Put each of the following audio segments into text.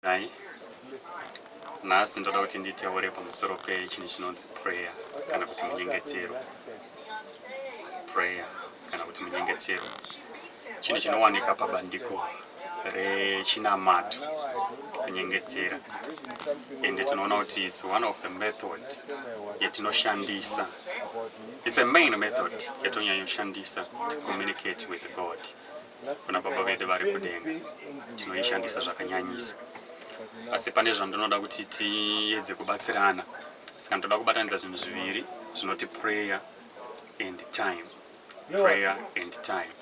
Nhai, nhasi ndoda kuti nditeure pamusoro pechinhu chinonzi prayer kana kuti munyengetero. Prayer kana kuti munyengetero chinhu chinowanika pabandiko rechinamato kunyengetera ende tinoona kuti its one of the method yatinoshandisa its a main method yatonyanyoshandisa to communicate with god kuna Baba vedu vari kudenga tinoishandisa zvakanyanyisa. Asi pane zvandinoda kuti tiyedze kubatsirana saka ndoda kubatanidza zvinhu zviviri zvinoti prayer and time prayer and time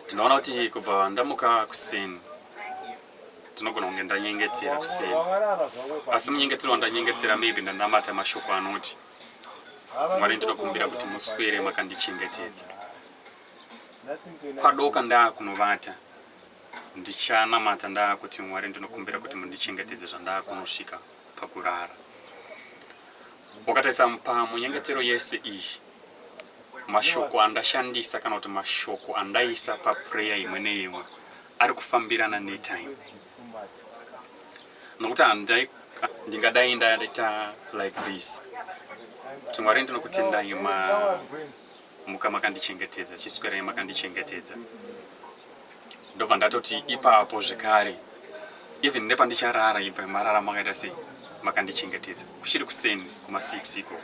ndinoona kuti kubva ndamuka kuseni ndinogona kunge ndanyengetera kuseni asi munyengetero wandanyengetera maybe ndanamata mashoko anoti mwari ndinokumbira kuti muswere makandichengetedza Kwadoka ndaakunovata ndichanamata ndaakuti Mwari ndinokumbira kuti mundichengetedze zvandaakunosvika pakurara. Wakatarisa pamunyengetero yese iyi mashoko andashandisa kana kuti mashoko andaisa paprayer imwe neimwe ari kufambirana netime nokuti handai ndingadai ndaita like this kuti mwari ndinokutendai ma muka makandichengetedza chiswerai makandichengetedza ndobva ndatoti ipapo zvekare even nepandicharara ibva marara makaita sei makandichengetedza kuchiri kuseni kuma6 iko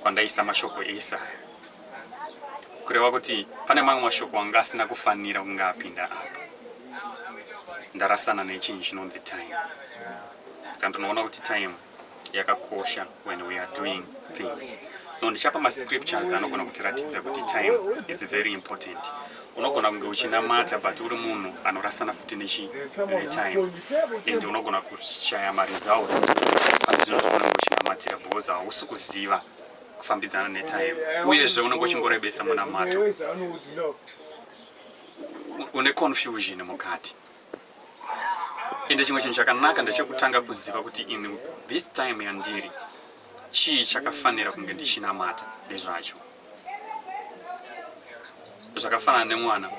kwandaisa mashoko ese aya kureva kuti pane mamwe mashoko anga asina kufanira kunge apinda apa ndarasana nechinhu chinonzi time saka ndinoona kuti time yakakosha when we are doing things so ndichapa mascriptures anogona kutiratidza kuti time is very important unogona kunge uchinamata but uri munhu anorasana futi nechi time and unogona kushaya maresults pane zvinhu zvaunenge uchinamatira because hausi kuziva kufambidzana netime uyezve unenge uchingorebesa munamato une confusion mukati Ende chimwe chinhu chakanaka ndechekutanga kuziva kuti in this time yandiri chii chakafanira kunge ndichinamata nezvacho. Zvakafanana nemwana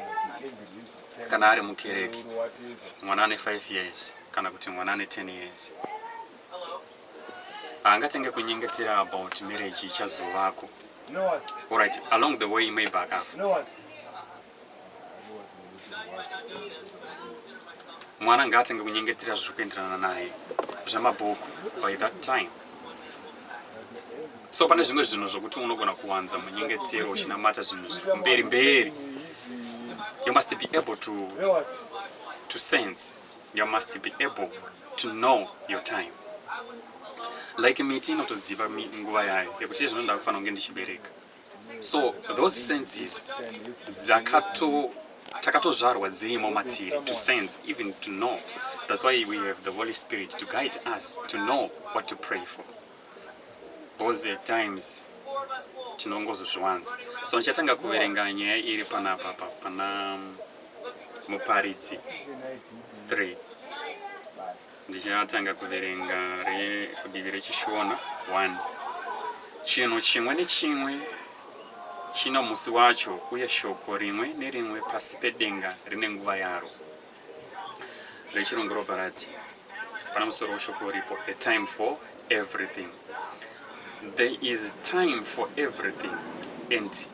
kana ari mukereke, mwana ane 5 years kana kuti mwana ane 10 years haangatenge kunyengetera about marriage ichazovako. Alright, along the way maybe akafa. mwana ngaatenge kunyengetera zviri kuenderana naye zvamabhuku by that time so pane zvimwe zvinhu zvokuti unogona kuwanza munyengetero uchinamata zvinhu zviri kumberi mberi you must be able to, to sense you must be able to know your time like miti inotoziva nguva yayo yekuti izvino ndakufanira kunge ndichibereka so those senses dzakato takatozvarwa dzirimo matiri to sense even to know that's why we have the holy spirit to guide us to know what to pray for because at times tinongozozviwanza so ndichatanga kuverenga nyaya iri panapa pa pana muparidzi 3 Ndichatanga kuverenga rekudivi reChishona 1. Chinhu chimwe nechimwe chino musi wacho uye shoko rimwe nerimwe pasi pedenga rine nguva yaro rechirungu ropa rati pana musoro weshoko uripo a time for everything there is time for everything and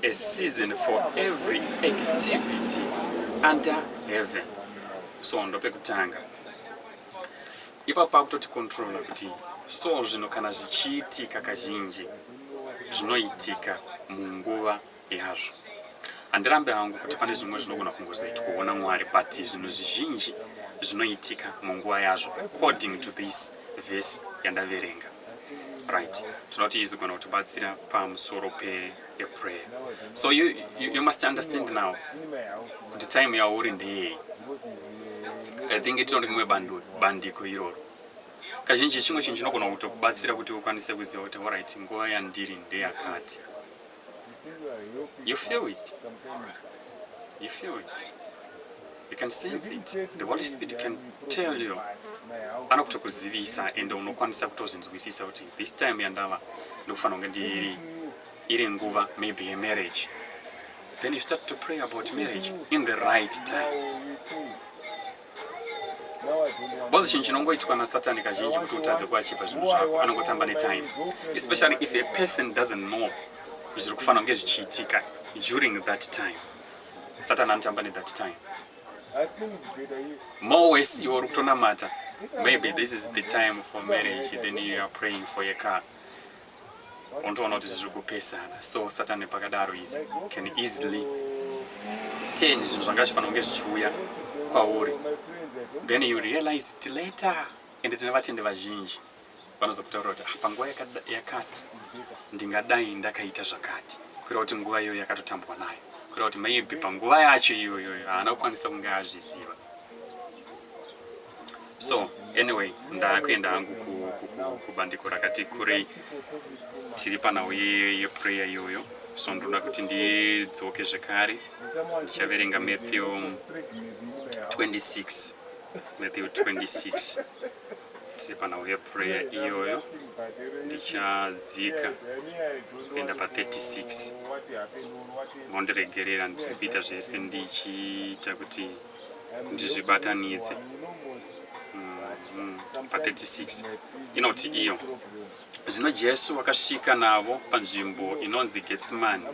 a season for every activity under heaven so ndopekutanga ipapo pakutoti controla kuti so zvino kana zvichiitika kazhinji zvinoitika munguva yazvo handirambe hangu kuti pane zvimwe zvinogona kungozoiti kuona mwari but zvinhu zvizhinji zvinoitika munguva yazvo according to this vhesi yandaverenga right tinoti izogona kutibatsira pamusoro peprayer so you, you, you must understand now kuti time yauri ndeyei i think tinondi mumwe bandiko iroro kazhinji chimwe chinhu chinogona kutokubatsira kuti ukwanise kuziva kuti orit nguva yandiri ndeyakati You feel it. You feel it. You can sense it. The Holy Spirit can tell you. Anokutokuzivisa and unokwanisa kutozvinzwisisa kuti this time yandava ndokufana kunge ndiri iri nguva maybe a marriage. Then you start to pray about marriage in the right time. Boss chinhu chinongoitwa nasatani kazhinji kuti utadze kuachiva zvinhu zvako anongotamba netime especially if a person doesn't know zviri kufanira kunge zvichiitika during that time satani anotamba nethat time more wes iwe uri kutonamata maybe this is the time for marriage then you are praying for a car unotoona kuti izvi zviri kupesana so satan nepakadaro izi can easily ten zvinhu zvanga zvifanira kunge zvichiuya kwauri then you realize ti later ende tine vatendi vazhinji vanozokutaura kuti ah, panguva yakati ndingadai ndakaita zvakati kureva kuti nguva iyoyo yakatotambwa nayo kureva kuti maybe panguva yacho iyoyoyo haana kukwanisa kunge azviziva so anyway ndakuenda hangu kubandiko rakati kurei tiri panhau yeprayer iyoyo so ndoda kuti ndidzoke zvekare ndichaverenga matthew 26 matthew 26 tiri panhau yeprayer iyoyo ndichadzika kuenda pa36 mondiregerera ndiri kuita zvese ndichiita kuti ndizvibatanidze mm-hmm. pa36 inoti iyo zvino jesu akasvika navo panzvimbo inonzi getsimani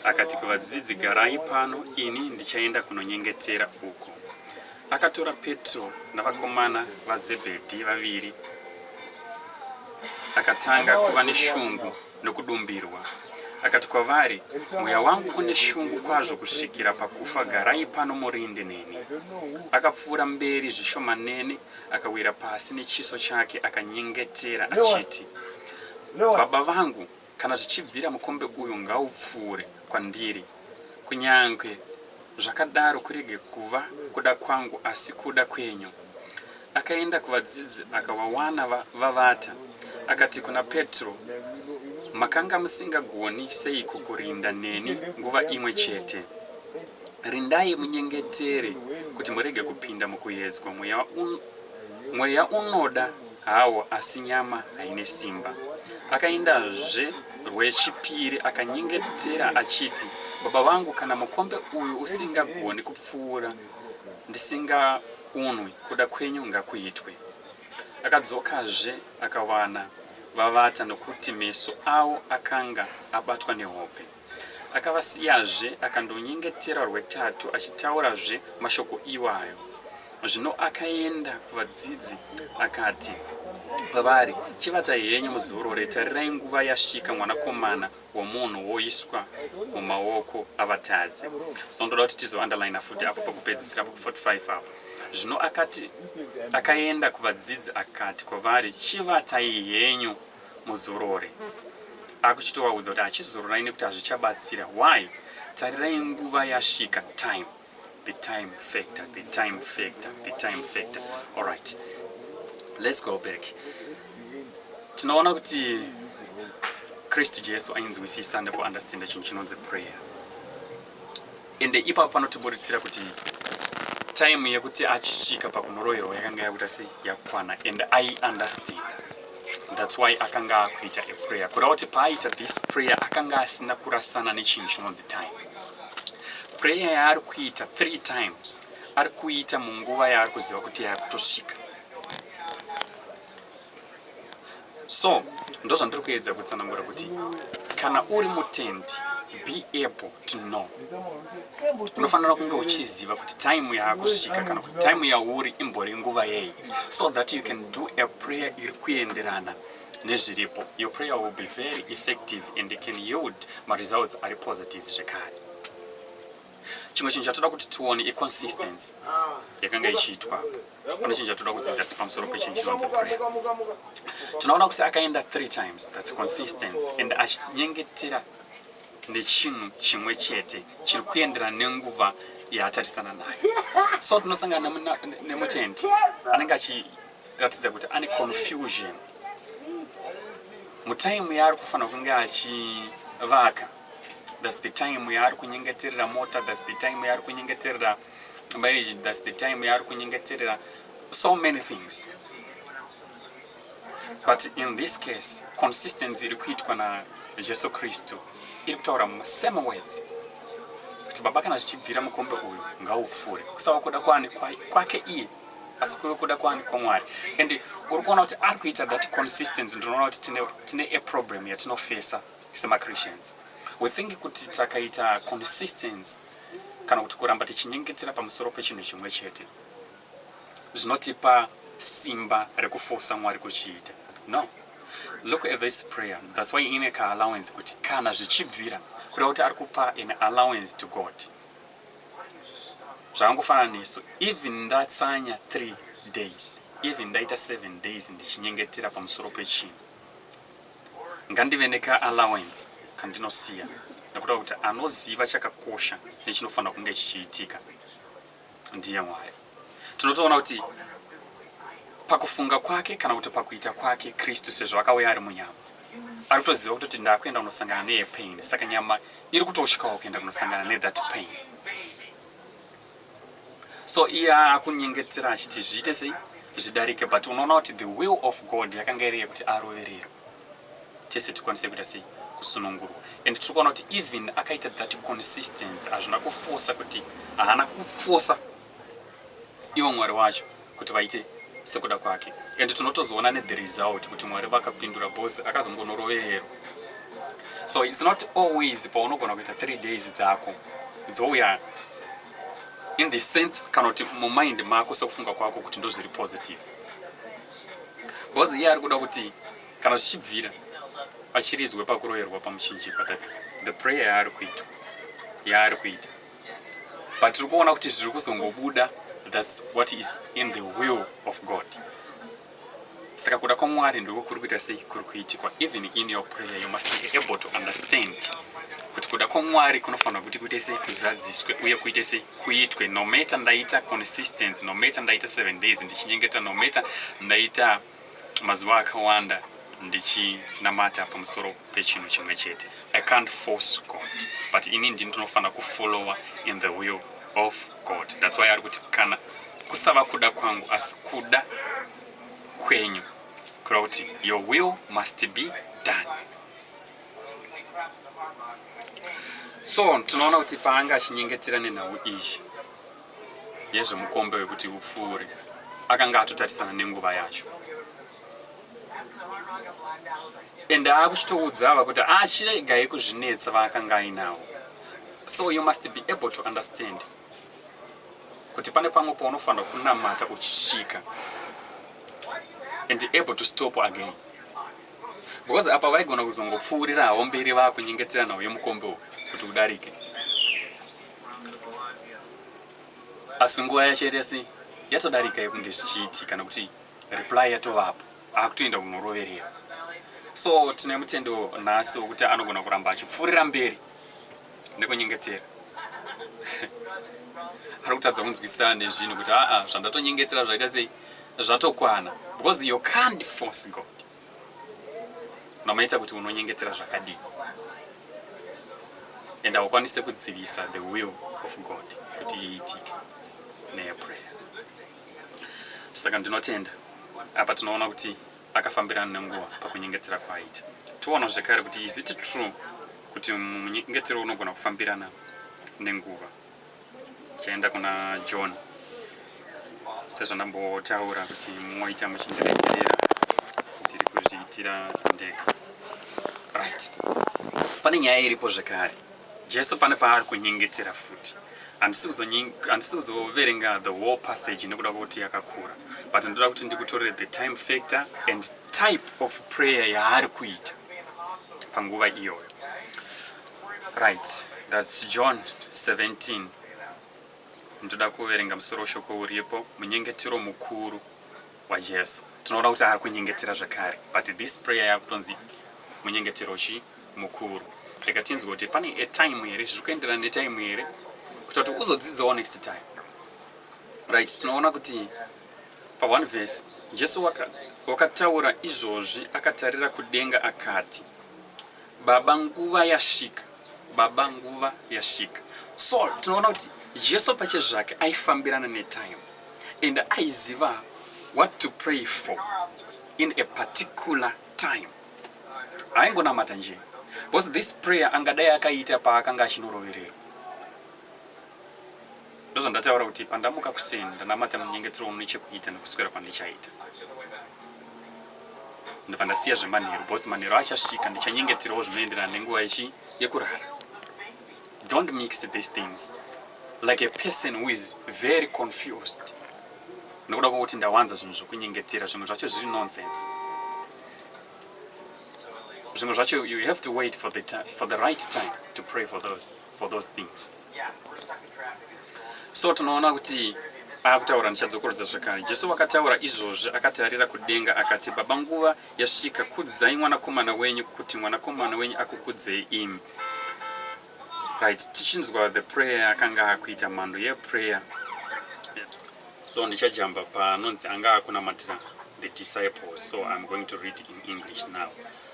akati kuvadzidzi garai pano ini ndichaenda kunonyengetera uko Akatora Petro navakomana vaZebhedhi vaviri, akatanga kuva neshungu nokudumbirwa. Akati kwavari, Mweya wangu une shungu kwazvo kusvikira pakufa, garai pano murinde neni. Akapfuura mberi zvishomanene, akawira pasi nechiso chake, akanyengetera achiti, Baba vangu, Kana zvichibvira mukombe uyu ngaupfuure kwandiri. Kunyange zvakadaro kurege kuva kuda kwangu asi kuda kwenyu. Akaenda kuvadzidzi akavawana va, vavata. Akati kuna Petro, makanga musingagoni seiko kurinda neni nguva imwe chete? Rindai munyengetere kuti murege kupinda mukuyedzwa mweya, un, mweya unoda Hawo asi nyama haine simba. Akaendazve rwechipiri akanyengetera achiti, Baba vangu, kana mukombe uyu usingagoni kupfuura ndisingaunwi, kuda kwenyu ngakuitwe. Akadzokazve akawana vavata nokuti meso avo akanga abatwa nehope. Akavasiyazve akandonyengetera rwetatu achitaurazve mashoko iwayo. Zvino akaenda kuvadzidzi akati kwavari, Chivatai henyu muzorore, tarirai nguva yasvika mwanakomana womunhu woiswa mumaoko avatadzi. So ndoda kuti tizounderline futi apo pakupedzisira pa 45 apo. Zvino akati akaenda kuvadzidzi akati kwavari, Chivatai henyu muzorore akuchitovaudza kuti hachizororai nekuti hazvichabatsira why tarirai nguva yasvika time the time factor the time factor the time factor alright let's go back tinoona kuti kristu jesu ainzwisisa nekuunderstanda chinhu chinonzi prayer ende ipapo panotiburitsira kuti time yekuti achisvika pakunoroyerwa yakanga yakuita sei yakwana and i understand thats why akanga akuita a prayer kuda kuti paaita this prayer akanga asina kurasana nechinhu chinonzi time prayer yaari kuita three times ari kuita munguva yaari kuziva kuti yaakutosvika so ndozvandiri kuedza kutsanangura kuti kana uri mutendi be able to know unofanira kunge uchiziva kuti time yakusvika kana kuti time yauri imbori nguva yei so that you can do a prayer iri kuenderana nezviripo your prayer will be very effective and it can yield maresults ari positive zvekare chimwe chinhu chatoda kuti tione iconsistency yakanga ichiitwa pane chinhu chatoda kudzidza pamusoro pechinhu chinonzi prayer tinoona kuti akaenda three times thats consistency and achinyengetera nechinhu chimwe chete chiri kuendera nenguva yaatarisana nayo so tinosangana nemutendi anenge achiratidza kuti ane confusion mutaimu yaari kufanira kunge achivaka thats the time yaari kunyengeterera mota thats the time yaari kunyengeterera marriage thats the time yaari kunyengeterera so many things but in this case consistency iri kuitwa najesu kristu iri kutaura same words kuti baba kana zvichibvira mukombe uyu ngaupfuure kusava kuda kwani kwake iye asi kuve kuda kwani kwamwari and uri kuona kuti ari kuita that consistency ndinoona kuti tine aproblem yatinofesa semachristians we think kuti takaita consistence kana kuti kuramba tichinyengetera pamusoro pechinhu chimwe chete zvinotipa simba rekufosa mwari kuchiita no look at this prayer thats why ine kaallowance kuti kana zvichibvira kureva kuti ari kupa an allowance to god zvakangofanana nesu even ndatsanya three days even ndaita seven days ndichinyengetera pamusoro pechinhu Ngandive neka allowance kandinosiya nekuda kuti anoziva chakakosha nechinofanira kunge chichiitika ndiye Mwari. Tinotoona kuti pakufunga kwake kana kuti pakuita kwake Kristu sezvo akauya ari munyama ari kutoziva kutoti ndakuenda kunosangana neye pain saka nyama iri kutosvikawo kuenda kunosangana nethat pain so iye akunyengetera achiti zviite sei zvidarike but unoona kuti the will of god yakanga iri yekuti arovererwe tese tikwanise kuita sei kusunungurwa and tiri kuona kuti even akaita that consistency hazvina kufosa kuti haana kufosa ivo mwari wacho kuti vaite sekuda kwake and tinotozoona ne the result kuti mwari vakapindura bos akazongonoroverero so its not always paunogona kuita three days dzako dzouya in the sense kana kuti mumind mako sekufunga kwako kuti ndozviri positive bos iye ari kuda kuti kana zvichibvira achiridzwe pakuroverwa pamuchinjikwa thats the prayer yaari kuitwa yaari kuita but tiri kuona kuti zviri kuzongobuda thats what is in the will of god saka kuda kwamwari ndiko kuri kuita sei kuri kuitikwa even in your prayer you must be able to understand kuti kuda kwamwari kunofanira kuti kuite sei kuzadziswe uye kuite sei kuitwe nomater ndaita consistence nomater ndaita seven days ndichinyengetera nomater ndaita mazuva akawanda ndichinamata pamusoro pechinhu chimwe chete i can't force god but ini ndi ndinofanira kufollowa in the will of god thats why ari kuti kana kusava kuda kwangu asi kuda kwenyu kura kuti your will must be done so tinoona kuti paanga achinyengetera nenhau izvi yezvemukombe wekuti upfuure akanga atotatisana nenguva yacho ende akuchitoudza ava kuti achiregai ah, kuzvinetsa vaakanga ainawo so you must be able to understand kuti pane pamwe paunofanira kunamata uchisvika and able to stop again because apa vaigona kuzongopfuurirawo mberi vakunyengeteranawo yemukombe uyu kuti udarike asi nguva yacho yaita sei yatodarika yekunge zvichiiti kana kuti reply yatovapo akutoenda kunoroverera so tine mutendo nhasi wekuti anogona kuramba achipfuurira mberi nekunyengetera ari kutadza kunzwisisana nezvinhu kuti aa zvandatonyengetera zvaita sei zvatokwana because you can't force god mamaita kuti unonyengetera zvakadii and haukwanise kudzivisa the will of god kuti iitike neyaprayer saka ndinotenda apa tinoona kuti akafambirana nenguva pakunyengetera kwaaita toona zvekare kuti is it true kuti munyengetero unogona kufambirana nenguva ndichaenda kuna john sezvandambotaura kuti moita muchindiregerera ndiri kuzviitira ndega right pane nyaya iripo zvekare jesu pane paari kunyengetera futi handisi kuzoverenga the whole passage nekuda kwekuti yakakura but ndoda kuti ndikutorere the time factor and type of prayer yaari kuita panguva iyoyo Right, that's John 17. Ndoda kuverenga musoro weshoko uripo, munyengetero mukuru waJesu. Tinoona kuti ari kunyengetera zvakare, but this prayer yakutonzi munyengetero chi mukuru. Rega tinzwe kuti pane a time here, zviri kuenderana netime here, kuti kuti uzodzidzawo next time. Right, tinoona kuti pa one verse Jesu wakataura izvozvi akatarira kudenga akati Baba nguva yasvika, Baba nguva yasvika. So tinoona kuti Jesu pache zvake aifambirana netime and aiziva what to pray for in a particular time. Aingonamata nje because this prayer angadai akaita paakanga achinorovererwa. ndozvandataura kuti pandamuka kuseni ndanamata munyengetero wamune chekuita nekuswera kwandichaita ndobva ndasiya zvemanheru bcause manheru achasvika ndichanyengeterawo zvinoenderana nenguva ichi yekurara don't mix these things like a person who is very confused nekuda kwokuti ndawanza zvinhu zvokunyengetera zvimwe zvacho zviri nonsense zvimwe zvacho you have to wait for the, for the right time to pray for those, for those things so tinoona kuti akutaura ndichadzokorodza zvakare jesu wakataura izvozvi akatarira kudenga akati baba nguva yasvika kudzai mwanakomana wenyu kuti mwanakomana wenyu akukudzei imi right tichinzwa the prayer akanga akuita mhando yeprayer so ndichajamba panonzi anga akunamatira the disciples so iam going to read in english now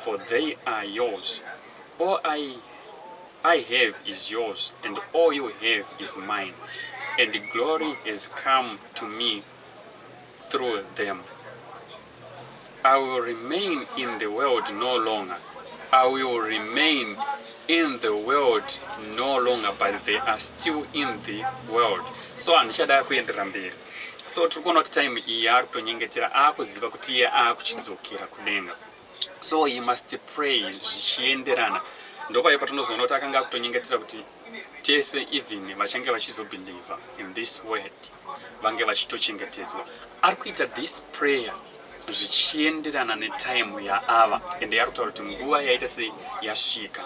for they are yours. All I, I have is yours, and all you have is mine. And glory has come to me through them. I will remain in the world no longer. I will remain in the world no longer but they are still in the world so handichada kuenderera mberi so tiri kuona kuti time iyi ari kutonyengetera akuziva kuti iye akuchidzokera kudenga so he must pray zvichienderana ndopayo patinozoona kuti akanga akutonyengetsera kuti tese even vachange vachizobhilivha in this word vange vachitochengetedzwa ari kuita this prayer zvichienderana netime yaava ende yari kutaura kuti nguva yaita sei yasvika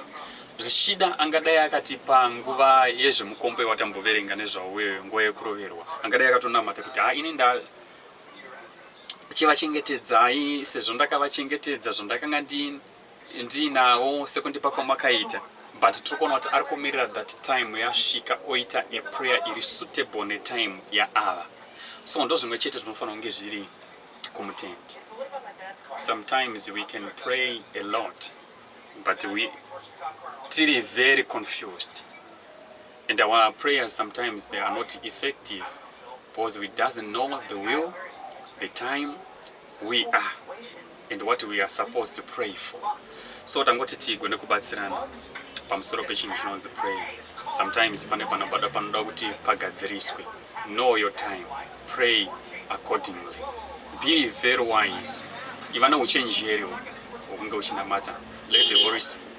zvichida angadai akati panguva yezvemukombe watamboverenga nezvauyo nguva yekuroverwa angadai akatonamata kuti ha ini nda chivachengetedzai sezvo ndakavachengetedza zvandakanga ndiinawo sekundipa kwamakaita but tiri kuona kuti ari kumirira that time yasvika oita a prayer iri suitable netime yaava so ndo zvimwe chete zvinofanira kunge zviri kumutendi sometimes we can pray a lot but we tiri very confused And our prayers sometimes they are not effective because we doesn't know the will, the time we are and what we are supposed to pray for. So tangoti tigone kubatsirana pamusoro pechinhu chinonzi prayer. Sometimes pane panobada panoda kuti pagadziriswe. Know your time. Pray accordingly. Be very wise. Iva neuchenjeri hwekunge uchinamata. Let the Holy Spirit